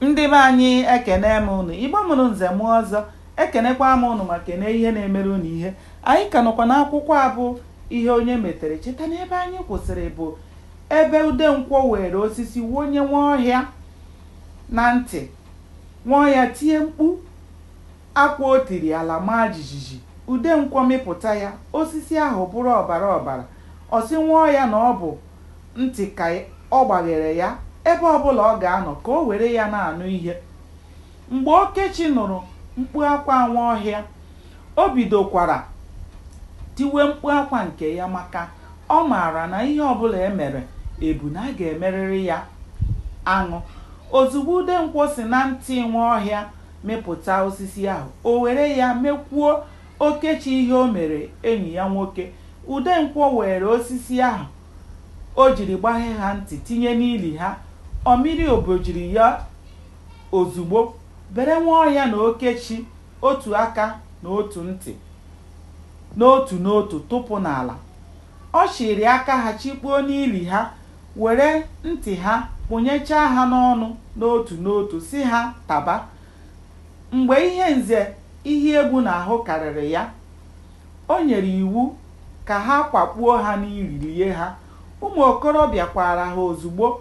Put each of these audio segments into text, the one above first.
Ndị be anyị ekene m unu. Igbo mụrụ nze mụọ ọzọ. Ekenekwa m unu ma kene ihe na-emere unu ihe. Anyị ka nọkwa n'akwụkwọ a bụ ihe onye metere. Cheta na ebe anyị kwụsịrị bụ ebe Udenkwọ were osisi wonye Nwaọhịa na ntị. Nwaọhịa tie mkpu akwa o tiri ala maa jijiji. Udenkwọ mịpụta ya, osisi ahụ bụrụ ọbara ọbara. Ọ sị Nwaọhịa na ọ bụ ntị ka ọ gbaghere ya ebe ọbụla ọ ga-anọ ka o were ya na-anụ ihe. Mgbe Okechi nụrụ mkpu akwa Nwaọhịa, o bidokwara tiwe mkpu akwa nke ya maka ọ maara na ihe ọbụla e mere ebu na a ga-emerịrị ya aṅụ. Ozugbo Udenkwọ si na ntị Nwaọhịa mịpụta osisi ahụ, o were ya mekwuo Okechi ihe o mere enyi ya nwoke. Udenkwọ weere osisi ahụ o jiri gbaghe ha ntị tinye n'ili ha. Ọ mịrị obojiri ya ozugbo bere Nwaọhịa na Okechi otu aka na otu ntị n'otu n'otu tụpụ n'ala. Ọ chịịrị aka ha chịkpuo n'ili ha, were ntị ha kpụnyechaa ha n'ọnụ n'otu n'otu sị ha taba. Mgbe ihe Nze Ihiegbu na-ahụ karịrị ya, o nyere iwu ka ha kwakpuo ha n'ili lie ha. Ụmụ okorobịa kwaara ha ozugbo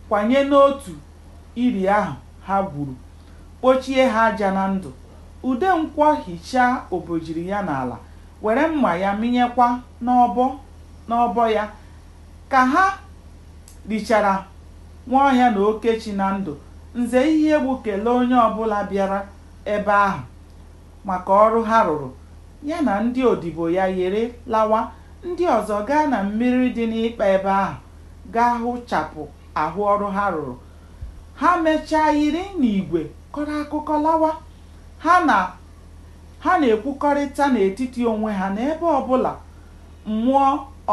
kwanye n'otu ili ahụ ha gwuru, kpochie ha aja na ndụ. Udenkwọ hichaa obojiri ya n'ala, were mma ya mịnyekwa n'ọbọ n'ọbọ ya ka ha lichara Nwaọhịa na Okechi na ndụ, Nze Ihiegbu kelee onye ọbụla bịara ebe ahụ maka ọrụ ha rụrụ, ya na ndị odibo ya yịrị lawa, ndị ọzọ gaa na mmiri dị n'ịkpa ebe ahụ gaa hụchapụ ahụ ọrụ ha rụrụ. Ha mechaa yịrị n'igwe kọrọ akụkọ lawa. Ha na-ekwukọrịta n'etiti onwe ha na ebe ọbụla mmụọ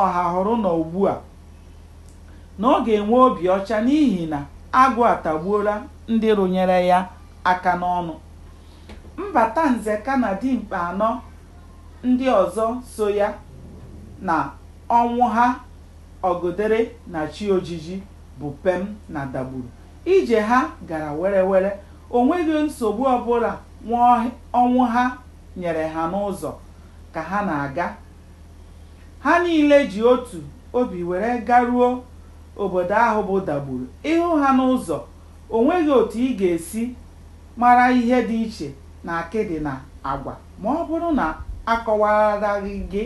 Ọhahụrụ nọ ugbua. na ọ ga-enwe obi ọcha n'ihi na agụ atagbuola ndị rụnyere ya aka n'ọnụ. Mbata Nzeka na dimkpa anọ ndị ọzọ so ya na Ọnwụha Ọgụdere na chi ojiji bụ pem na Dagburu. Ije ha gara were were, o nweghị nsogbu ọbụla nwa Ọnwụha nyere ha n'ụzọ ka ha na-aga. Ha niile ji otu obi were garuo obodo ahụ bụ Dagburu. Ị hụ ha n'ụzọ, o nweghị otu ị ga-esi mara ihe dị iche n'akịdị na agwa ma ọ bụrụ na a kọwaraghị gị.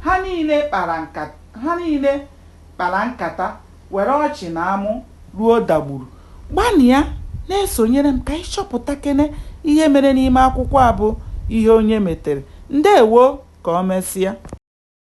Ha niile kpara nkata. kpara nkata, were ọchị na amụ ruo dagburu. Gbanịa na-esonyere m ka anyị chọpụtakene ihe mere n'ime akwụkwọ a bụ Ihe Onye Metere. Ndewo! Ka o mesịa.